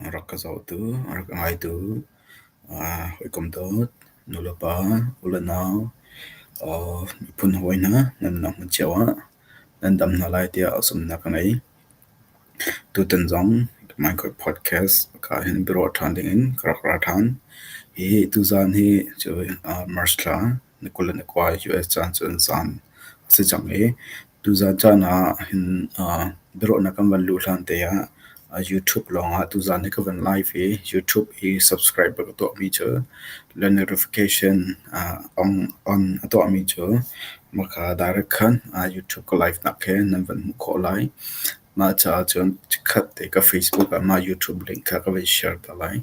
rak ka zohtu, rak ka ngaitu, hawikom dawt, nu le pa, u le nau, miphun hawi hna nan nunnak hmun cio ah nan dam hna lai tiah zumhnak ka ngei. Tutan zong Minecraft podcast ka hin biaruah ṭhan dingin ka rak ra ṭhan. Hi tuzaan hi cu March thla ni kul le ni kua i US caan cu an caan a si cang i tuzaan caan ahhin biaruahnak kan van luh hlante ah YouTube lawngah tuzaan hi ka van live i YouTube i subscriber ka tuahmi cu le notification on a tuahmi cu maka direct khan YouTube ka live nak he nan van hmuh khawh lai. Mah caah cun chikkhat te ka Facebook ah mah YouTube link kha ka van share ta lai.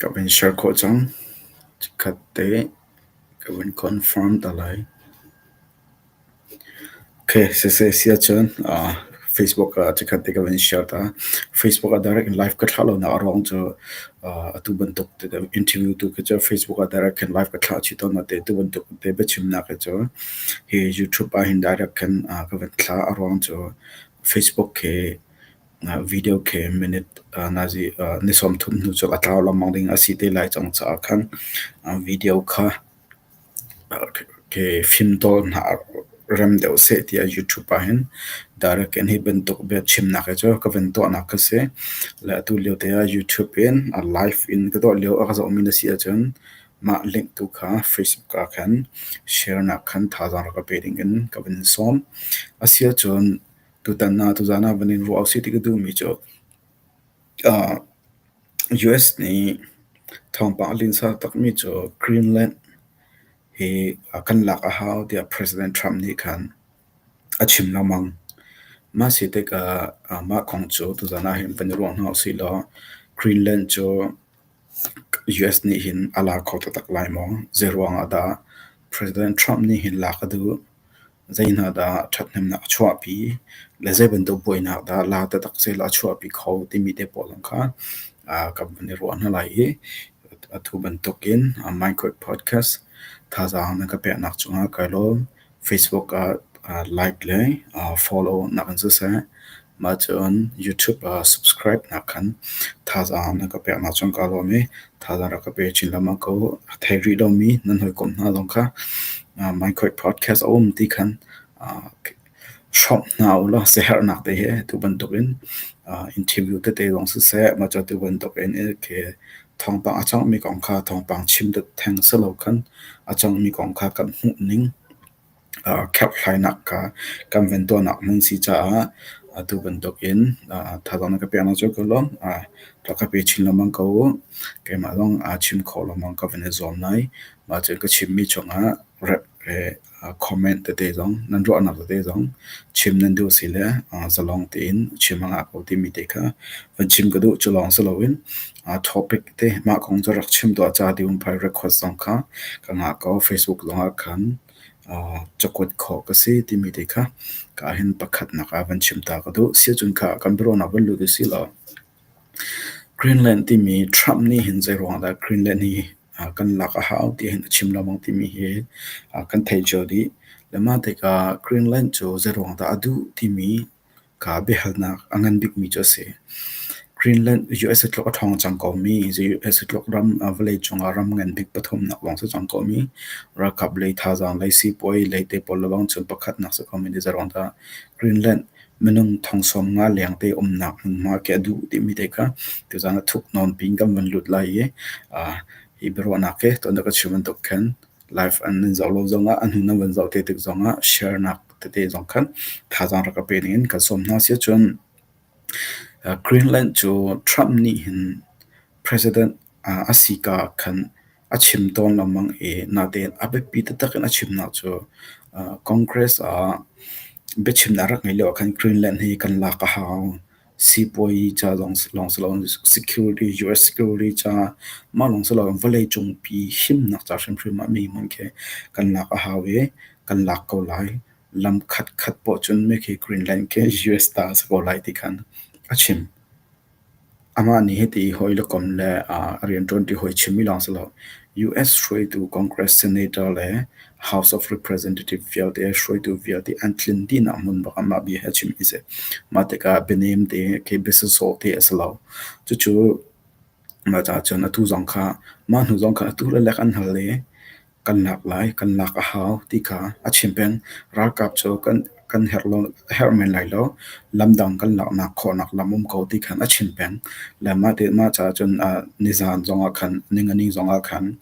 Ka vun share khawh cang. Chikkhat te ka vun confirm ta lai. Siseh si ahcun Facebook ah chikkhat te ka van in share ta. Facebook ah direct live ka thlah lonak a ruang cu atu bantuk interview tu khi cu Facebook ah direct khin live ka thlah chih tawn. Natein tu bantuk te biachimnak hi cu hi YouTube ah hin direct khin ka van thlah. A ruang cu Facebook khi video khi minute nazi ni sawm thum hnu cu a tlau lengmang ding a si te lai cang caah khan video kha Ke fimtawl hna rem deuh seh tiah YouTube ah hin direct in hi bantuk biachimnak hi cu ka van tuahnak kha si. Le atu lio te ah YouTube in a live in ka tuah lio a ka zohmi na si ahcun mah link tu kha Facebook ah khan sharenak khan thazaang rak ka pe ding in ka van sawm. Asiahcun tutan ah tuzaan ah van in ruah usih ti ka duhmi cu US nih thawngpang a linsa takmi cu Greenland hi kan lak a hau tiah President Trump nih khan a chim lengmang. Mah si tikah mah kong cu tuzan ah hin kan i ruah hna usihlaw Greenland cu US nih hin a la kho taktak lai maw? Zeiruangah dah President Trump nih hin lak a duh? Zei hna dah ṭhathnemnak a chuahpi le zei bantuk buainak dah la taktak sehla a chuahpi kho timi te pawl zong kha kan van i ruah hna lai i atu bantukin Minecraft podcast thazaang na ka peknak cungah kai lawm. Facebook ah like le follow nak in siseh. Mah cun YouTube ah subscribe nak khan thazaang na ka peknak cun kaa lawm i thazaang rak ka pe chin lengmang ko. A thei rih lomi nan hawikom hna zong kha uh, Minecraft podcast a um ti khan uh, hrawmh hna ulaw siaherhnak te hi tu bantuk in uh, interview tete zong siseh mah cu tu bantuk in ke thawngpang a cangmi kong kha thawngpang chim dut theng si lo khan a cangmi kong kha kan hmuh ning kherhhlainak kha kan van tuahnak hmun si caah atu bantuk in thazaang na ka peknak cu ka lawm. rak ka pe chin lengmang ko u. keimah lawng aa chim khawh lengmang ka van i zuam lai. mah cun ka chimmi chungah rep le comment tete zong nan ruahnak tete zong chim nan duh si le zalong tein chim a ngah ko timi te kha van chim ka duh. cu lawng si loin topic te mah kong cu rak chim tuah ca tiah um phai request zong kha ka ngah ko. facebook zongah khan cakuat khawh ka si timi te kha ka ahhin pakhatnak ah van chim ta ka duh. Siacun kha kan biaruahnak van lut usih law Greenland timi Trump nih hin zeiruangah dah Greenland hi kan lak a hau tihin a chim lengmang timi hi kan thei cio dih. Le mah tikah Greenland cu zeiruangah dah a duh timi Ka biahalnak a ngan bikmi cu a si. Greenland USA tluk a ṭhawng cang komi, USA tluk ram vawleicung ah ram ngan bik pathumnak lawng si cang komi, ralkap lei, thazaang lei, sipuai lei te pawl le bang cun pakhatnak si komi ti zeirong dah. Greenland minung thong sawm nga lengte umnak hmunhma khi a duh timi te kha tuzang a thuknawn piin kan vun lut lai i hi biaruahnak hi tuan dah ka chim bantuk khin live an nan zoh lo zongah a hnun an van zoh te tik zongah sharenak tete zong khan thazaang rak ka pe ning in kan sawm hna si cun uh, Greenland cu Trump nih hin president uh, a si ka khan a chim tawn lamang i natein a biapi taktak in a chimnak cu uh, Congress ah biachimnak rak ngei lio ah khan Greenland hi kan lak a hau Sipuazi ca lawng si loin security, US security ca mah lawng si loin vawleicung pi himnak ca hrimhrim ah mi hmun khi kan lak a hau i kan lak ko lai. Lam khatkhat poh cun mei khi Greenland khi US ta a si ko lai ti khan a chim. Amah nih hiti hawi le kom le a rianṭuanṭi hawi chim mi lawng si lo US hruaitu Congress Senator le House of Representative vialte, hruaitu vialte an tlin dihnak hmun bak ah mah bia hi a chim i si. Mah tikah bianem te ke biasasawh te a si lo. Cucu mah caah cun atu zong kha mah hnu zong kha atu le lek an hal i kan lak lai, kan lak a hau ti kha a chim peng. Ralkap cu kan kan herh men lai lo. Lam dang kan laknak khawhnak lam um ko ti khan a chim peng. Le mah te mah caah cun ah nizan zongah khan ningani zongah khan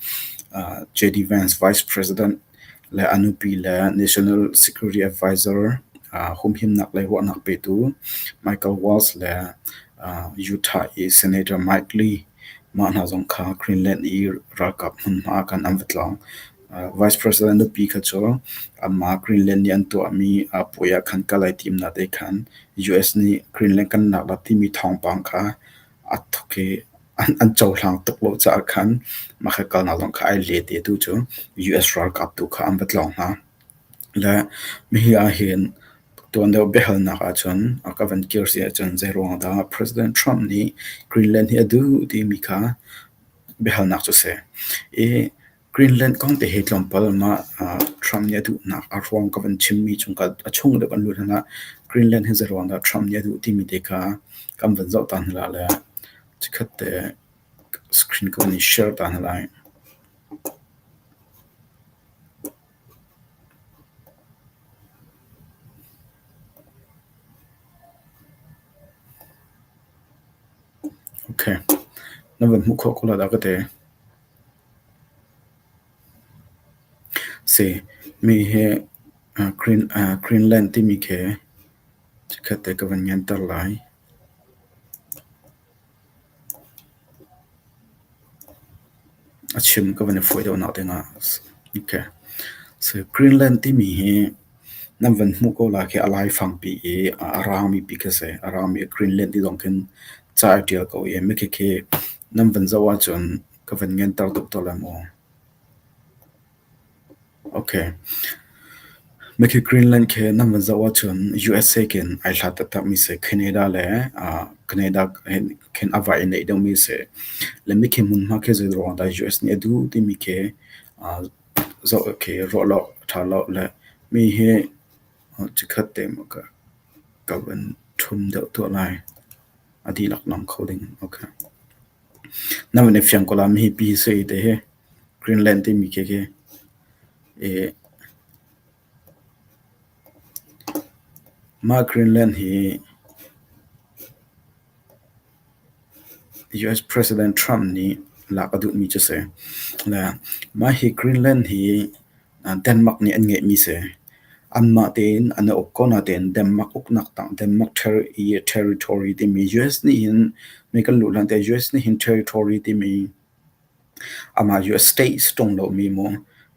ah J.D. Vance Vice President le a nupi le National Security Advisor ah humhimnak le ruahnak petu Michael Waltz le ah Utah i Senator Mike Lee mah hna zong kha Greenland i ralkap hmunhma ah khan an va tlawng. Vice President nupi kha cu amah Greenland nih an tuahmi puai ah khan kal ai timnak te khan US nih Greenland kan naklah timi thawngpang kha a thawk i an cohlang tuk lo caah khan mah kha kalnak zong kha ai let i atu cu US ralkap tu kha an va tlawng hna. Le hihi ahhin tuandeu biahalnak ahcun a ka van kir si ahcun zeiruang dah President Trump nih Greenland hi a duh timi kha biahalnak cu si. I Greenland kong te hi tlawmpal mah ah Trump nih a duhnak a ruang ka van chim mi chung ka a chung le van luat hlan ah Greenland hi zeruang dah Trump nih a duh timi te kha kan van zoh ta hna la le chikhat te screen ka van i share ta hna lai. Okay, na van hmuh khawh ko la dah ka ti. Si, mi hi Greenland timi khi chikkhat te ka van nganter lai. A chim ka van i fawi deuh nak dingah. Okay. Si, Greenland timi hi nan van hmuh ko la khi a laifangpi i a rangmipi khi a si. A rangmi Greenland ti zong khin ca a tial ko i mikhikhi nan van zoh ahcun Ka van nganter tuk tawn lai maw? Okay. Mikhi Greenland khi nan van zoh ahcun USA kin ai hlat taktakmi si. Canada le ah Canada khin a vai neih deuhmi si. Le mikhi hmunhma khi zeiruang dah US nih a duh timi khi ah zoh khi ruah law, ṭha law le mi hi chikhat te maw ka van ṭhum deuh tuah lai. A dihlak nam kho ding. Okay. Na van i fiang ko la, mihi pi hi sui te hi Greenland timi khi khi i mah Greenland hi US President Trump nih lak a duhmi cu a si. Le mah hi Greenland hi Denmark nih an ngeihmi si. Anmah tein an i uk ko natein Denmark uknak tang Denmark territory timi US nih hin mi kan luh hlan te US nih hin territory timi amah US state si ṭung lomi mu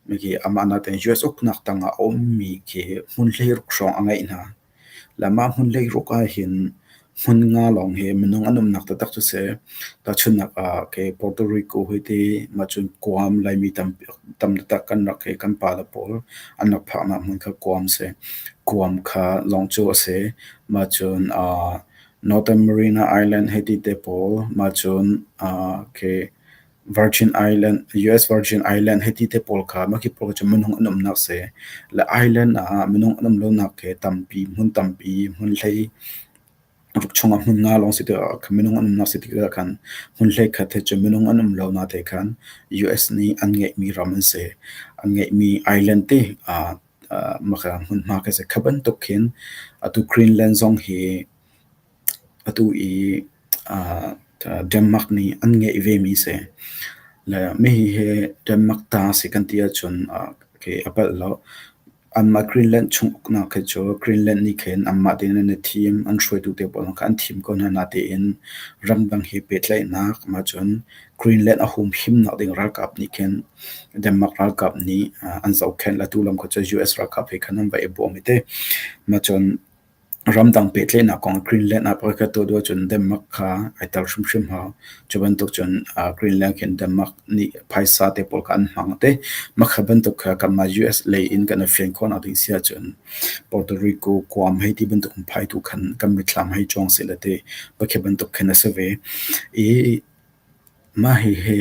miki amah natein US uknak tang ah a ummi khi hmun hleiruk hrawng a ngeih hna. Lamah hmun hleiruk ahhin hmun nga lawng hi minung an umnak taktak cu si. Tahchunhnak ah kei Puerto Rico hi ti mahcun Guam Laimi tam tam taktak kan rak i kan pa le pawl an rak phaknak hmun kha Guam a si. Guam kha lawng cu a si. Mahcun Northern Marine Island hi ti te pawl mahcun kei Virgin Island, US Virgin Island hiti te pawl kha makip pawl cu minung an umnak si. Le Island ah minung an um lonak khi tampi, hmun tampi, hmun hlei vuk chungah hmun nga lawng si ti ah khan minung an umnak si ti ah khan hmun hlei khat hi cu minung an um lo na te khan US nih an ngeihmi ram an si. An ngeihmi island te ah maka hmunhma khi a si. Kha bantuk khin atu Greenland zong hi Atu i Denmark nih an ngeih vemi a si. Le hihi hi Denmark ta a si kan ti ahcun a palh lo. Anmah Greenland chung uknak khi cu Greenland nih khin anmah tein an i thim. An hruaitu te pawl kha an thim ko hna natein ramdang he pehtlaihnak mah cun Greenland a humhimnak ding ralkap nih khin Denmark ralkap nih an zohkhenh. Atu lam kha cu US ralkap he khan an va i bawm i teh. Mah cun Ramdang pehtlaihnak kong Greenland ah pakhatkhat tuah duh ahcun Denmark kha ai tel hrimhrim hau. Cu bantuk cun ah Greenland khi Denmark nih phaisa te pawl kha an hmang te. Mah kha bantuk kha kanmah US lei in kan i fian khawhnak ding si ahcun Puerto Rico, Guam hei ti bantuk in phai tu khan kan mitthlam hei cuang seh le ti. Pakhi bantuk khin a si ve. I mah hi hi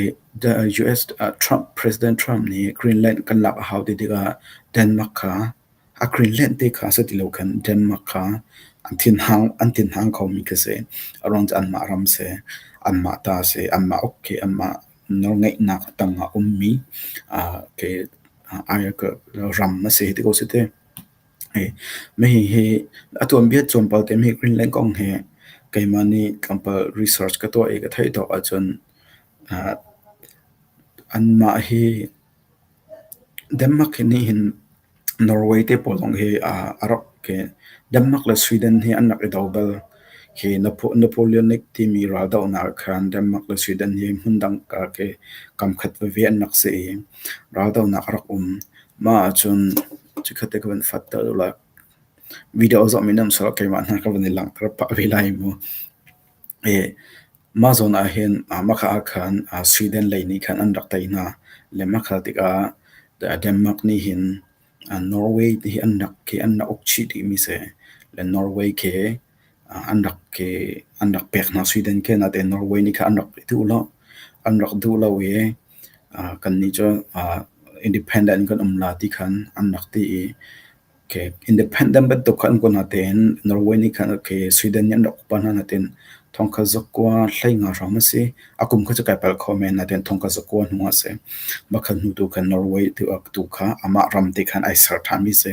US ah Trump, President Trump nih Greenland kan lak a hau ti tikah Denmark kha A Greenland te kha a si ti lo khan Denmark kha an thin hang khomi khi a si. A ruang cu anmah ram a si. Anmah ta a si. Anmah uk khi anmah nawlngeihnak tangah ummi ram a si ti ko a si te. Hihi hi a tuanbia tlawmpal te mi Greenland kong hi keimah nih tlawmpal research ka tuah i ka theih tawk ahcun anmah hi Denmark nih hin Norway te pawl zong hi a rak khi Denmark le Sweden hi an rak i do bal. Khi Napoleon I timi raldohnak ah khan Denmark le Sweden hi hmundang ah khi kamkhat veve an rak si i raldohnak a rak um. Mah ahcun chikkhat te ka van fatter ula video zong mi nam sawh keimah hna ka van i langhter pah ve lai mu. Mah zawn ahhin Makha ah khan Sweden lei nih khan an rak tei hna. Le Makha tikah Denmark nih hin Norway ti khi an rak uk chih dihmi a si. Le Norway khi an rak pek hna Sweden khi. Natein Norway nih khan an rak i duh lo. An rak duh lo i kannih cu independent kan um la ti khan an rak ti i Independent bantuk kha an kuat hna tein Norway nih khan Sweden nih an rak upat hna natein thongkhat zakua hlei nga hram a si. A kum kha cu kai palh kho men natein thongkhat zakua hnung ah a si. Makhat hnu tu khan Norway tu kha amah ram te khan ai ser ṭhanmi a si.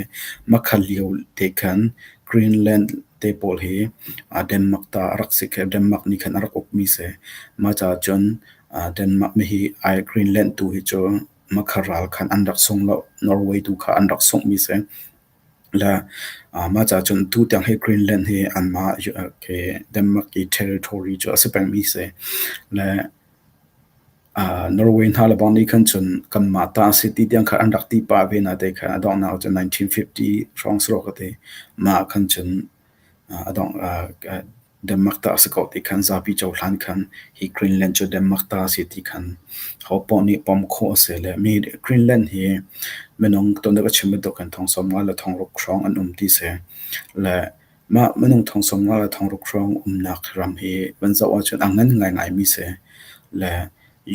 Makhat lio te khan Greenland te pawl hi Denmark ta a rak si khi Denmark nih khan a rak ukmi a si. Mah caah cun Denmark nih hi Greenland tu hi cu Makha ral khan an rak sung lo. Norway tu kha an rak sunghmi si. Le mah caah cun tu tiang hi Greenland hi anmah Denmark i territory cu a si pengmi si. Le Norway hna le bang nih khan cun kanmah ta a si ti tiang kha an rak ti pah ve na te kha a donghnak cu 1950 hrawng saruk a ti. Mah khan cun a dongh Denmark ta a si ko ti khan zapi cohlan khan hi Greenland cu Denmark ta a si ti khan ho paoh nih pom khawh a si le mi Greenland hi minung tonnak a chim bantuk in thongsawm nga le thongruk hrawng an um ti si. Le mah minung thongsawm nga le thongruk hrawng umnak ram hi van zoh ahcun a ngan ngaingai mi si. Le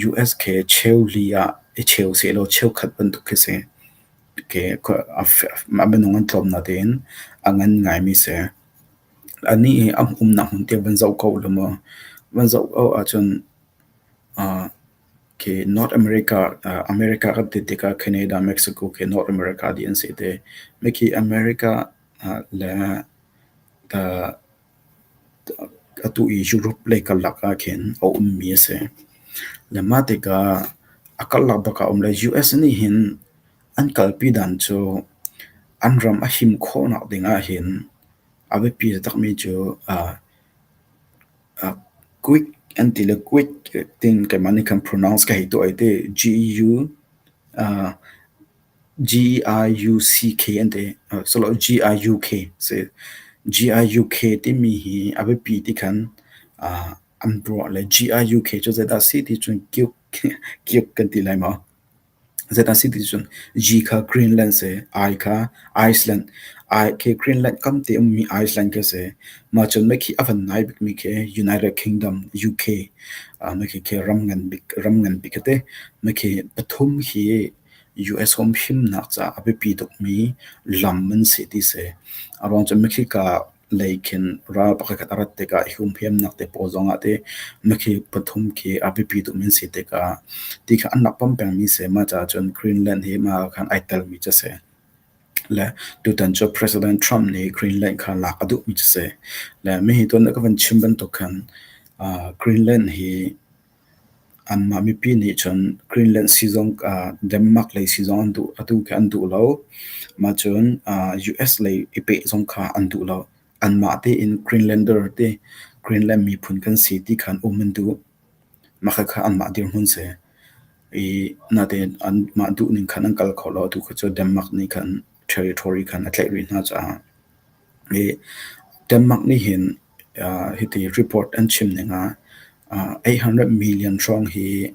US khi cheu li ah i cheu sehlaw cheukhat bantuk khi si. Ke a minung an tlawmnak tein a ngan ngai mi si. Anih hi an umnak hmun tiang van zoh ko ulaw maw, van zoh ko ahcun aa khi North America ah America kan ti tikah Canada, Mexico khi North America dih an si te. Mikhi America ah le atu i Europe lei karlak ahkhin a ummi a si. Le mah tikah a karlak bak ah a um le US nih hin An kalpi dan cu an ram a him khawhnak ding ahhin a biapi taktakmi cu Greek an ti le Greek tin keimah nih khan pronounce ka hei tuah i ti G-E-I-U-C-K an ti. G-I-U-K a si. G-I-U-K timi hi a biapi ti khan an ruah le G-I-U-K cu zeidah a si ti cun kiuk kan ti lai maw? Zeitin a si ti cun G kha Greenland si, I kha Iceland, khi Greenland kamte ummi Iceland khi a si. Mah cun mei khi a van nai bikmi khi United Kingdom, UK, mei khi khi ram ngan bik, ram ngan bik a ti. Mei khi pathum hi US humhimnak caah a biapi tukmi lam an si ti si. A ruang cun mei khi ka lei khin ral pakhat a rat tikah hi humhiamnak te pawl zongah ti mikhi pathum khi a biapi tuk mi an si tikah ti kha an rak pom peng mi si mah caah cun Greenland hi mah ah khan ai tel mi cu a si le tutan cu President Trump nih Greenland kha lak a duh mi cu a si le mi hi tuan a ka van chim bantuk khan ah Greenland hi Anmah mipi nih cun Greenland sii zong ah Denmark lei sii zong an duh. Atu khi an duh lo. Mah cun ah US lei i peh zong kha an duh lo. Anmah tein Greenlander ti Greenland miphun kan si ti kha an um an duh. Mah khakha anmah dirhmun si. I natein anmah duh ning khan an kal kho lo. Atu khi cu Denmark nih khan ṭheri ṭhori khan a tlaih rih hna caah. Denmark nih hin hiti report an chim ning ah eight hundred million hrawng hi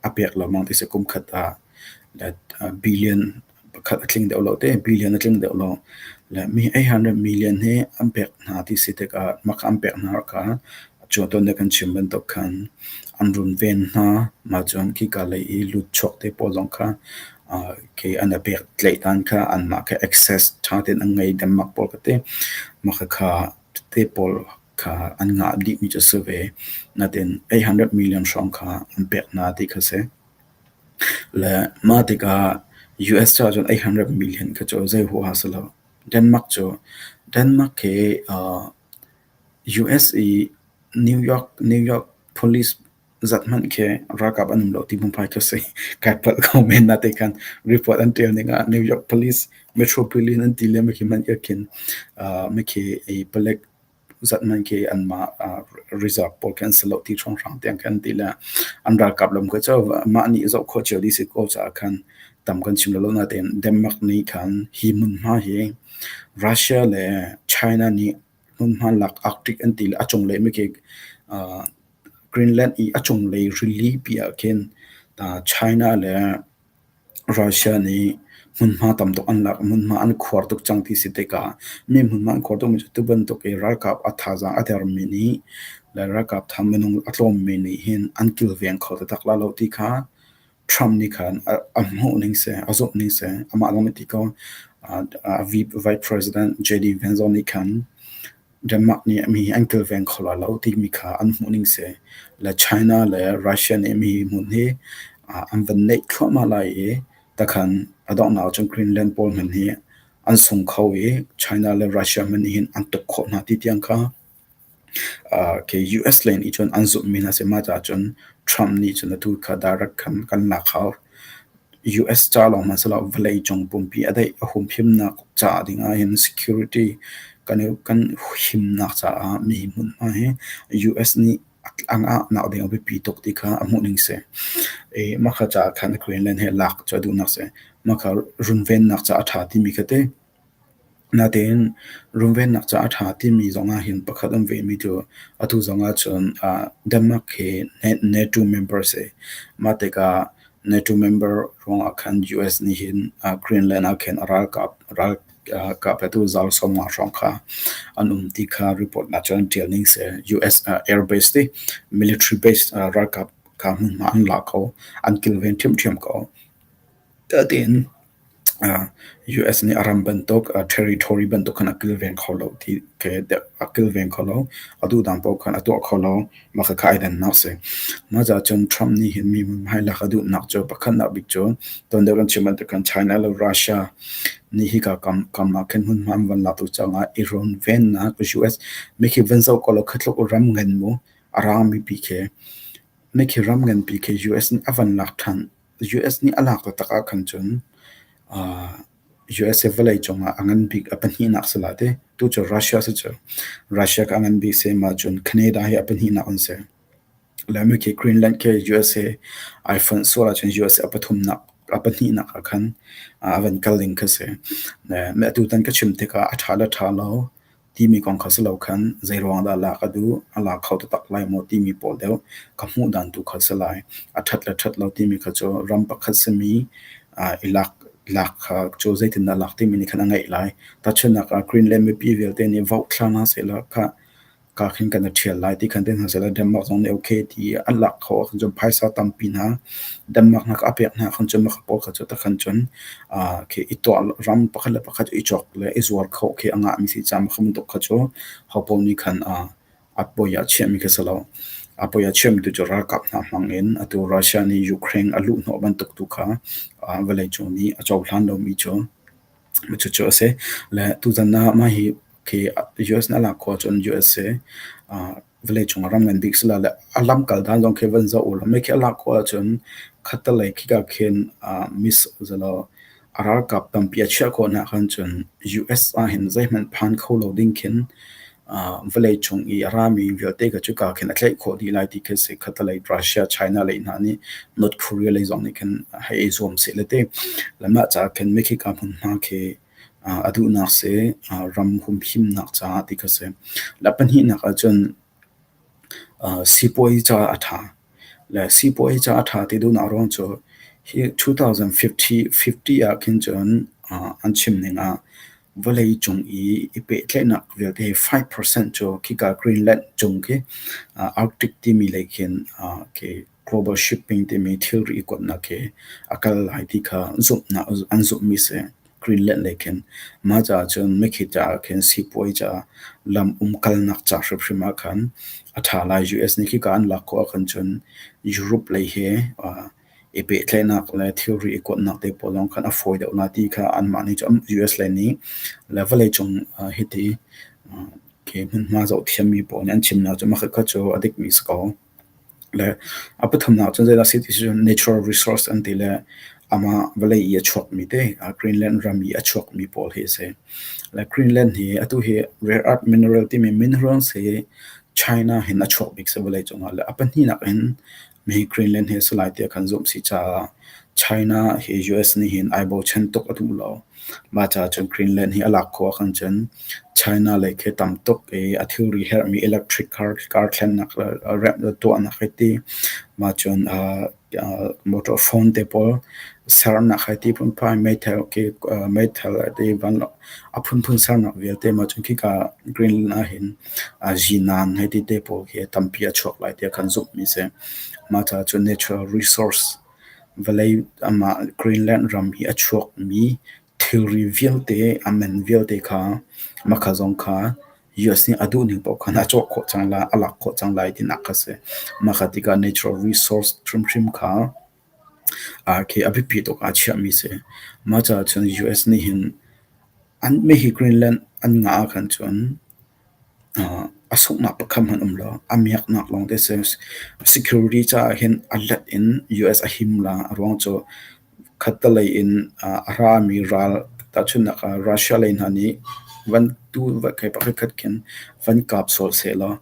a pek lengmang ti a si. Kum khat ah billion pakhat a tling deuh lo te, billion a tling deuh lo. Le mi eight hundred million hi an pek hna ti si tikah mah kha an pek hna rih kha a cuan tawn dek an chim bantuk khan an runven hna. Mah cun khika lei i lut chuak te pawl zong kha Kei an a pek tlaih hlan kha anmah kha access ṭha tein an ngei Denmark pawl ka ti. Mah khakha tete pawl kha an ngah dihmi cu a si ve. Natin eight hundred million hrawng kha an pek hna ti kha a si. Le mah tikah US caah cun eight hundred million kha cu zei huaha si lo. Denmark cu Denmark hi US i New York New York police Zeihmanh khi ralkap an um lo ti hmunhmai cu a si. Kai palh ko men na te khan. Report an tial ning ah New York Police Metropolitan an ti le mikhi hmanh irh khin ah mikhi i palek zeihmanh khi anmah ah reserve pawl khi an si lo ti hrawnghrang tiang khi an ti le an ralkap lam khi cu mah nih zoh khawh cio dih si ko caah khan tam kan chim lolo natein Denmark nih khan hi hmunhma hi Russia le China nih hmunhma lak Arctic an ti le a cunglei mikik uh, Greenland i a cunglei rilipi ah khin uh, China le Russia nih hmunhma tam tuk an lak hmunhma an khuar tuk cang ti si tika mi hmunhma an khuar tuk mi tu bantuk i ralkap a thazang a der mi ni le ralkap tham minung a tlawm mi nih hin an kilveng kho te tak la lo ti kha Trump nih khan a hmuh ning seh, a zumh ning seh, amah zong nih ti ko. Vice President JD Vance zong nih khan Denmark nih mi an kilveng kho la lo timi kha an hmuh ning seh. Le China le Russia nih mi hmun hi an van neih thluahmah lai i takhan a donghnak cun Greenland pawl hmanh hi an sung kho i China le Russia hmanh nih hin an tuk khawh hna ti tiang kha US lei nih cun an zumhmi na si. Mah caah cun Trump nih cun atu kha direct khan kan lak hau. US ca lawng hmanh si lo, vawlei cung pumpi a daih a humhimnak caah ding ahhin security kan i kan himnak caah mi hmunhma hi US nih an ahnak ding a biapi tuk ti kha a hmuh ning si. I mah kha caah khan Greenland he lak cu a duhnak si. Mah kha runvennak caah a ṭha timi kha ti. Natein runvennak caah a ṭha timi zong ahhin pakhat an vehmi cu atu zong ahcun Denmark hi NATO member a si. Mah tikah NATO member ruangah khan US nih hin Greenland ah khin a ralkap petu zaal sawmnga hrawng kha an um ti kha report ahcun ṭial ning si. US air base ti military base ralkap kha hmunhma an la kho, an kilven ṭhiamṭhiam ko. tiin US nih a ram bantuk territory bantuk khan a kilveng kho lo ti a kilveng kho lo. Atu dang paoh khan a tuah kho lo. Mah khakha ai dannak a si. Mah caah cun Trump nih hin mi hmai lak a duhnak cu pakhatnak bik cu ton deuh in chim bantukin China le Russia nih hika kamnak khin hmunhma an van laktuk caah i runvennak US make hi van zoh kaw law khi tluk ram ngan mu a rangmi pi khi make hi ram nganpi khi US nih a van lak than US nih a lak taktak ahkhan cun ah USA vawlei cungah a ngan bik a pahnihnak si la ti. Tucu Russia si cu. Russia ka a ngan bik si ahcun Canada hi a pahnihnak an si. Le mi khi Greenland khi USA iPhone sual ahcun USA a pathumnak a pahnihnak ahkhan a van kal ding khi si. Le mi atu tan ka chim tikah a tha le tha lo. Timi kong kha si lo khan zeiruang dah lah ka duh, a la kho taktak lai maw timi pawl deuh ka hmuhdan tu kha si lai. A ṭhat le ṭhat lo timi kha cu ram pakhat simi i lak lak kha cu zeitindah lak timi nih khan a ngeih lai. Tahchunhnak ah Green le mipi vialte nih vote thla hna sehla kha kaa khin kan i ṭhial lai ti khan ti hna sehla Denmark zong nih okay ti i an lak kho ahcun cun phaisa tampi hna Danmaknak a pek hna ahkhan cun maka pawl kha cu takhan cun aa khi i tuah ram pakhat le pakhat i chawk le i zuar khawh khi a ngahmi si caah maka bantuk kha cu hopawl nih khan aa a poi ah chiahmi khi a si lo. A poi ah chiahmi tu cu ralkap hna hmangin atu Russia nih Ukraine a luhhnawh bantuk tu kha aa vawleicung nih a cohlan lomi cu cucu a si. Le tuzan ah mah hi khi US na lak khua cun USA aa vawlei cung ah ram ngan bik si la le a lamkal dan lawng khi van zoh u ram mei khi a lak khawh ahcun khattelei khika khin ah miss uzalaw a ralkap tampi a chiah khawh nak khan cun US ah hin zeihmanh phan kho lo ding khin uh, vawlei cung i a rami vialte ka cu ka khin a tlaih khawh dih lai ti khi si khatalei Russia China lei hna nih North Korea lei zong nih khin hei zuam si le te lamah ca khin mi khi ka hmun hna khi A duhnak si ram humhimnak caah ti kha si. Le pahnihnak ahcun sipuazi caah a ṭha. Le sipuazi caah a ṭha ti duhnak ruang cu hi 2050 ah khin cun an chim ning ah vawlei cung i i pehtlaihnak vialte hi five percent cu khika Greenland cung khi Arctic timi lei khin khi Global shipping timi thilri i kuatnak hi a kal lai ti kha zumhnak an zumhmi si. Greenland le khin mah caah cun mikhi caah khin sipuai caah lam umkalnak ca hrimhrim ah khan a ṭha lai. US nih khika an lak khawh ahkhan cun Europe lei hi i pehtlaihnak le thilri i kuatnak te pawl lawng khan a fawi deuh lai ti kha anmah nih cun US le nih le vawlei cung hiti hmunhma zohthiammi pawl nih an chimnak cu makhat khat cu a dikmi a si ko. Le a pathumnak cu zeidah a si ti cu natural resource an ti le amah vawlei i a chuakmi te, Greenland ram i a chuakmi pawl hi a si. Le Greenland hi atu hi rare earth mineral timi minerals hi China hin a chuak bik si vawleicung ah. Le a pahnihnak in mi hi Greenland hi a si lai tiah kan zumh si caah China hi US nih hin ai bochan tuk a duh lo. Mah caah cun Greenland hi a lak khawh ahkhan cun China lei khi tam tuk i a thilri herhmi electric car thlennak tuahnak hi ti mah cun motor phone te pawl sernak hi ti phunphai meithal khi meithal a ti vanlawng a phunphun sernak vialte mah cun khika Greenland ahhin zinan he ti te pawl khi tampi a chuak lai ti a kan zumhmi a si. Mah caah cun natural resource Vawlei amah Greenland ram i a chuakmi thilri vialte, a man vialte kha makha zong kha US nih a duhning paoh khan a cawh khawh cang lai, a lak khawh cang lai tinak kha a si. Makha tikah natural resource hrimhrim kha aa khi a biapi tuk ah a chiahmi a si. Mah caah cun US nih hin an mei hi Greenland an ngah ahkhan cun A sunghnak pakhat hmanh um lo. A miaknak lawng te si. Security caah hin a hlat in US a him la. A ruang cu khattelei in a rami ral tahchunhnak ah Russia lei hna nih van tu kei pakhatkhat khin van kap sawh sehlaw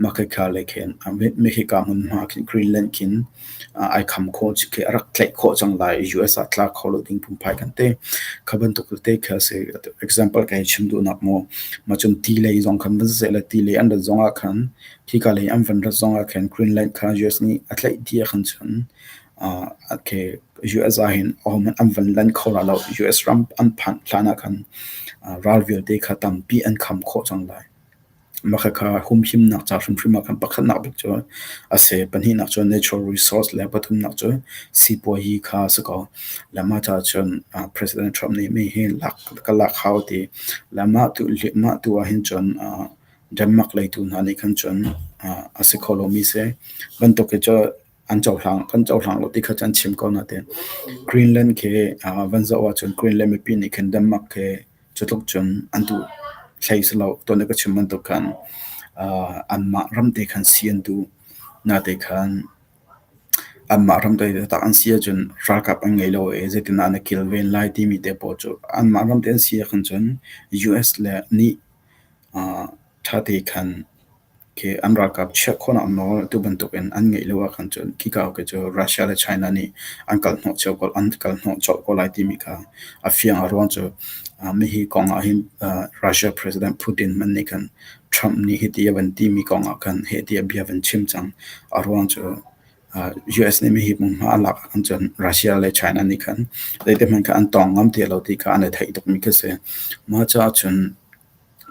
mah kha lei khin mah hi ka hmunhma khin Greenland khin ai kham khawh khi a rak tlaih khawh cang lai i US ah tla kho lo ding phungphai kan ti kha bantuk tete khi a si example kan chim duh nak mu ma cun ti lei zong khan van ze le ti lei an rat zong ah khan khi ka lei an van rat zong ah khan Greenland kha US nih a tlaih dia khan cun okay US ah hin ahom an van lan kho la lo US ram an phan hlan ah khan ralvial te kha tampi an kham khawh cang lai Mah khakha humhimnak ca hrimhrim ah khan pakhatnak bik cu a si. Pahnihnak cu natural resource le pathumnak cu sipuazi kha a si ko. Le mah caah cun ah President Trump nih mi hi lak ka lak hau a ti. Le mah tu mah tu ah hin cun ah Denmark lei tu hna nih khan cun ah a si kho lomi si. Bantuk hi cu an cohlang kan cohlang lo ti kha an chim ko natein Greenland khi van zoh ahcun Greenland mipi nih khin Denmark khi cutluk cun an duh thlei si lo ton ka chim bantuk khan anmah ram te khan si an duh nate khan anmah ram te tak an si ahcun ralkap an ngei lo e zeitin an kilven lai timi te pawl cu anmah ram te an si ahkhan cun US le nih thate khan khi an ralkap chiah khawhnak nawl atu bantukin an ngeih lio ahkhan cun khika hawke cu Russia le China nih an kalhnawh cio ko, an kalhnawh colh ko lai timi kha a fiang. A ruang cu hihi kong ahhin Russia President Putin hmanh nih khan Trump nih hiti a van timi kong ahkhan hiti a bia a van chim cang. A ruang cu US nih hihi hmunhma a lak ahkhan cun Russia le China nih khan zeitihmanh khan an tawng ngam ti lo ti kha an i theih tukmi khi a si. Mah caah cun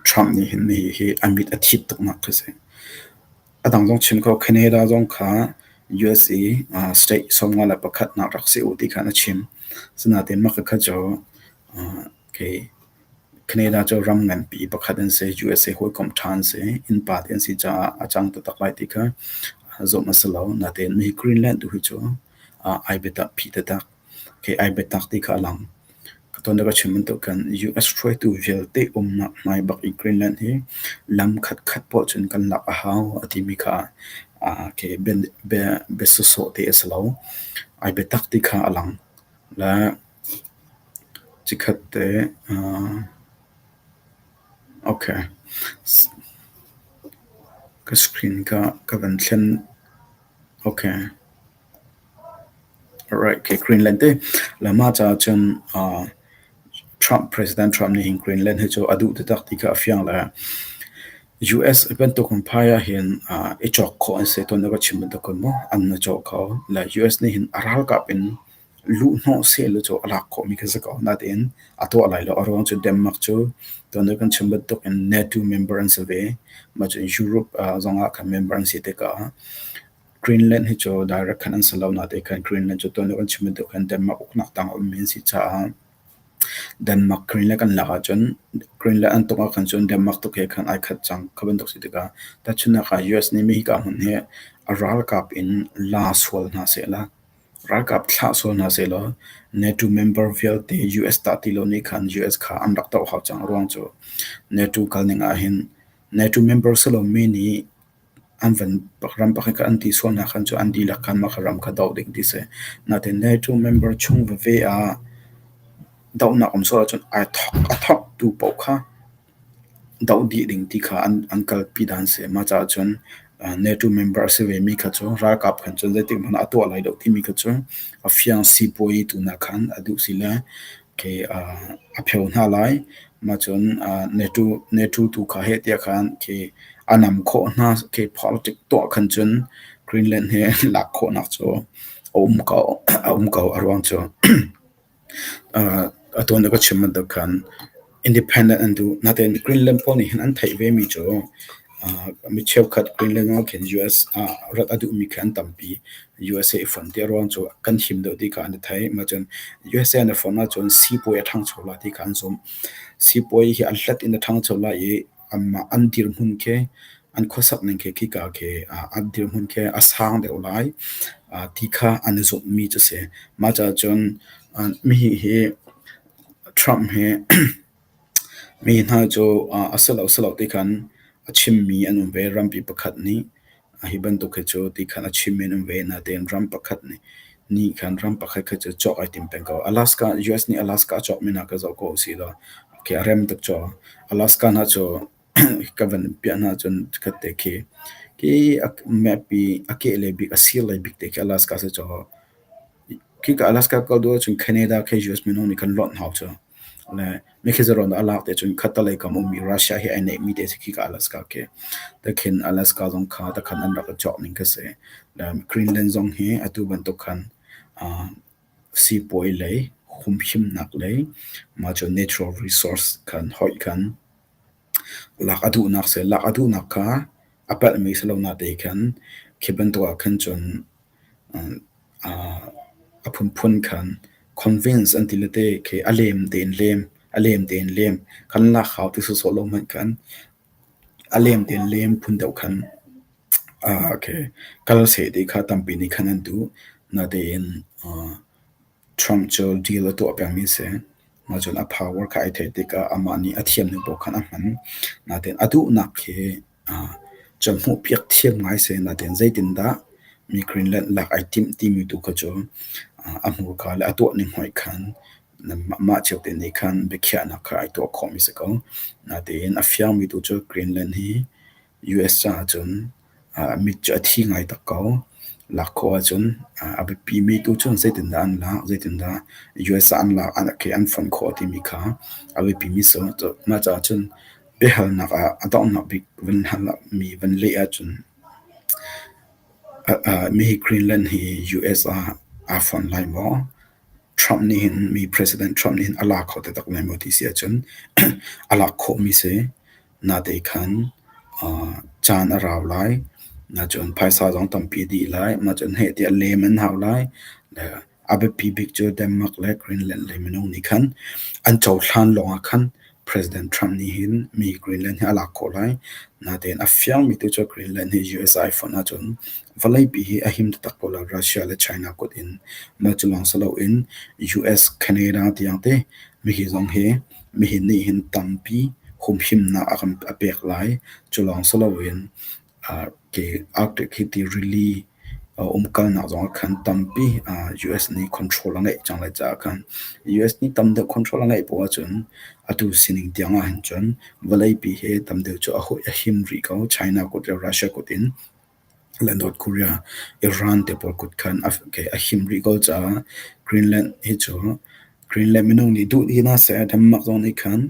Trump nih hin hihi a mit a thit tuknak khi a si. A dang zong chim ko, Canada zong kha USA ah state sawmnga le pakhatnak rak si u ti khan a chim. Asinain mah kha cu kei Canada cu ram nganpi pakhat an si. USA hawikom ṭha an si. Innpa te an si caah a cang taktak lai ti kha zumh a si lo. Nain mi Greenland tu hi cu ai biatak, phi tatak. Kei ai biatak ti kha a lang. Ka ton le ka chim bantuk khan US hruaitu vialte umnak hmai bak i Greenland hi lam khatkhat poah cun kan lak a hau a timi kha aa kei bia bia bia sawhsawh te a si lo. Ai biatak ti kha a lang. Le chikhat te aa okay. Ka screen ka ka van thlen. Okay. Alright, okay, Greenland te. Lama caah cun uh, Trump, President Trump nih hin Greenland hi cu a duh taktak ti kha a fiang le US bantuk in phai ah hin uh, i chawk khawh an si tuan aka chim bantuk kun mu an na chawk kho le US nih hin a ralkap in luh hnawh sehlaw cu a lak khawhmi kha za ko. Nain a tuah lai lo. A ruang cu Denmark cu tuanbia kan chim bantuk in NATO member an si ve. Mah cu Europe zong ah khan member an si tikah Greenland hi cu direct khan an si lo. Nain khan Greenland cu tuanbia kan chim bantuk khan Denmark uknak tang a ummi an si caah Denmark Greenland kan lak ahcun Greenland an tuk ahkhan cun Denmark tuk he khan ai khat cang. Kha bantuk si tikah tahchunhnak ah US nih mi hika hmun hi a ralkap in la sual hna sehla Ralkap thlah sual hna sehlaw NATO member vialte US tah ti lo nih khan US kha an rak doh hau cang. Ruang cu NATO kalning ahhin NATO member si lomi nih an van ram pakhat kha an ti sual hna khan cu an dihlak khan mah kha ram kha doh ding ti si. Nain NATO member chung veve ah dohnak um sual ahcun ai thawk a thawktu paoh kha doh dih ding ti kha an kalpi dan a si. Mah caah cun NATO member a si vemi kha cu ralkap khan cun zeitikhmanh ah a tuah lai lo timi kha cu a fiang sipuazi tu hna khan a duh si le okay a pheo hna lai. Mah cun NATO tu kha heh tiah khan okay a nam khawh hna. Okay politics tuah khan cun Greenland he lak khawhnak cu a um ko a ruang cu. A tuan a ka chim bantuk khan independent an duh. Natein Greenland pawl nih hin an theih ve mi cu mi cheukhat Greenland ah khin US ah rat a duhmi khi an tampi. USA i fonh ti a ruang cu kan him deuh ti kha an i theih. Mahcun USA an i fonh ahcun siipuai a ṭhangcho lai ti kha an zumh. Siipuai hi a hlat in a ṭhangcho lai i anmah an dirhmun khi an khuasakning khi khika khi ah an dirhmun khi a sang deuh lai ah ti kha an i zumhmi cu a si. Mah caah cun ah mihi hi Trump hi mihi hna cu ah a si lo, si lo ti khan a chimmi an um ve rampi pakhat nih. Hi bantuk hi cu ti khan a chim in um ve. Natein ram pakhat nih ni khan ram pakhat khat cu cawk ai tim peng ko. Alaska, US nih Alaska a cawk men ah ka zoh ko u si law okay a rem tuk caw. Alaska hna cu ka van piah hna cun chikkhat te khi ki a map i a keh le bik a sir le bik te khi Alaska si caw. Khika Alaska kal duh ahcun Canada khe US minung nih kan lonh hau cu. Le mikhizaron a lak te cun khattalei kam ummi Russia hi ai neihmi te si khika Alaska khi. Takhin Alaska zong kha takhan an rak i cawk ning ka si. Le Greenland zong hi atu bantuk khan sipuai lei humhimnak lei mah cu natural resource khan hoih khan Lak a duhnak seh lak a duhnak kha a palhmi si lo nate khan khi bantuk ah khan cun a phunphun khan convince an ti le te khi a lem tein lem a lem tein lem kan lak hau ti sawhsawh lo hmanh khan a lem tein lem phun deuh khan kal seh ti kha tampi nih khan an duh. Natein Trump cu deal a tuah pengmi a si. Ahcun a power kha ai theih tikah amah nih a thiam deuh paoh khan a hman. Nain a duhnak hi cu hmuhpiak thiam ngai a si. Nain zeitindah mi Greenland lak ai timh timi tu kha cu a hmurka le a tuahning hoih khan mah cio te nih khan biakhiahnak kha ai tuah khawhmi a si ko. Nain a fiangmi tu cu Greenland hi US caah cun mit cu a thi ngai tuk ko. Lak khawh ahcun a biapimi tu cu zeitindah an lak, zeitindah US ah an lak, an fonh khawh timi kha a biapimi a si. Mah caah cun biahalnak ah a donghnak bik van halmi van leh ahcun mi hi Greenland hi US ah aa fonh lai maw? Trump nih hin mi President Trump nih hin a lak kho taktak lai maw ti si ahcun a lak khawhmi a si. Nate khan aa caan a rau lai. Nacun phaisa zong tampi dih lai. Nacun heh tiah lem an hau lai. Le a biapi bik cu Denmark le Greenland le minung nih khan an cohlan lawngah khan President Trump nih hin mi Greenland hi a lak khawh lai. Natein a fiangmi tu cu Greenland hi USA fonh ahcun vawleipi hi a him taktak ko lai. Russia le China kut in. Mah cu lawng si loin US, Canada tiang te Mihi zong hi mihi nih hin tampi humhimnak a kan a pek lai. Cu lawng si loin aa ke Arctic hi ti rili aa umkalnak zong ah khan tampi aa US nih control a ngeih cang lai caah khan US nih tam deuh control a ngeih poh ahcun atu sining tiang ahhin cun vawleipi hi tam deuh cu a hawih a him rih ko. China kut le Russia kut in. Le North Korea Iran te pawl kut khan a him rih ko caah Greenland hi cu Greenland minung nih duh ti hna seh Denmark zong nih khan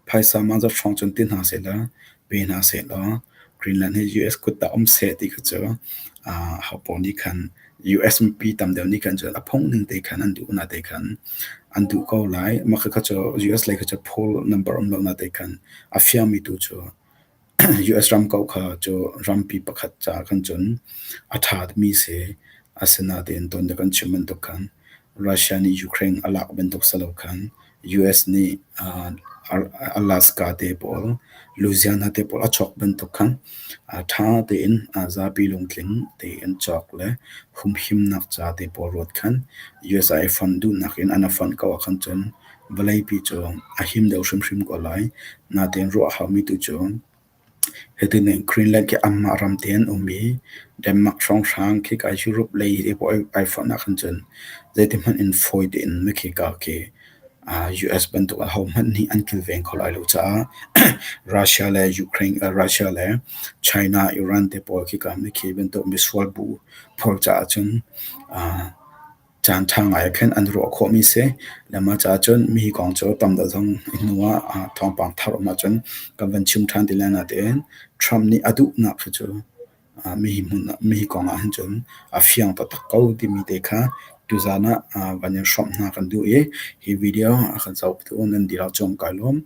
phaisa mahzat hrawng cun ti hna sehlaw pe hna sehlaw Greenland hi US kut ah um seh ti kha cu ho pawl nih khan US mipi tam deuh nih khan cun a phungning te khan an duh na te khan an duh ko lai mah kha cu US lei kha cu poll number um lo na te khan a fiangmi tu cu US ram kauh kha cu rampi pakhat caah khan cun a ṭha mi si. Asinain tuan dek an chim bantuk khan Russia nih Ukraine a lak bantuk si lo khan US nih aa Alaska te pawl Louisiana te pawl a chuak bantuk khan aa ṭha tein aa zapi lungtling tein cawk le humhimnak ca te pawl ruat khan USA i fund duhnak in an a fund ko ah khan cun vawleipi cun a him deuh hrimhrim ko lai. Natein ruah a haumi tu cu hitin hin Greenland khi anmah ram te an um i Denmark hrawnghrang khika Europe lei i puai ai forhnak hin cun zeitihmanh in fawi tein mikhika khi US bantuk ahohmanh nih an kilveng kho lai lo caah Russia le Ukraine Russia le China Iran te pawl khika mikhi bantuk misual bu phur caah cun Caan ṭha ngai ah khin an ruah khawhmi si. Le mah caah cun mi kong cu tam deuh zong hnu ah ah thawngpang thar a um ahcun kan van chim ṭhan ti le natein Trump nih a duhnak hi cu ah mi hmun ah mi kong ah hin cun a fiang taktak ko timi te kha tuzaan ah van in hrawmh hna kan duh i hi video a kan zohtu nan dihlak cu an kai lawm.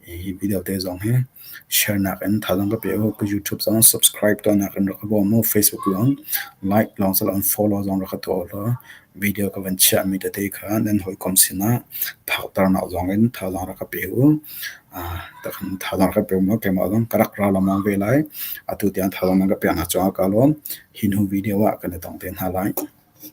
Hi video te zong hi share nak in thazaang ka pek u. Ka YouTube zong subscribe tuah nak in rak ka bawm u. Facebook lawng like lawng cu rak in follow zong rak ka tuah u law video ka van chiah mi tete kha nan hawikom sin ah phakternak zong in thazaang rak ka pek u. Ah, thazaang rak ka pek maw keimah zong ka rak ra lengmang ve lai. Atu tiang thazaang nan ka pek hna cungah ka lawm. Hi hnu video ah kan i tong te hna lai.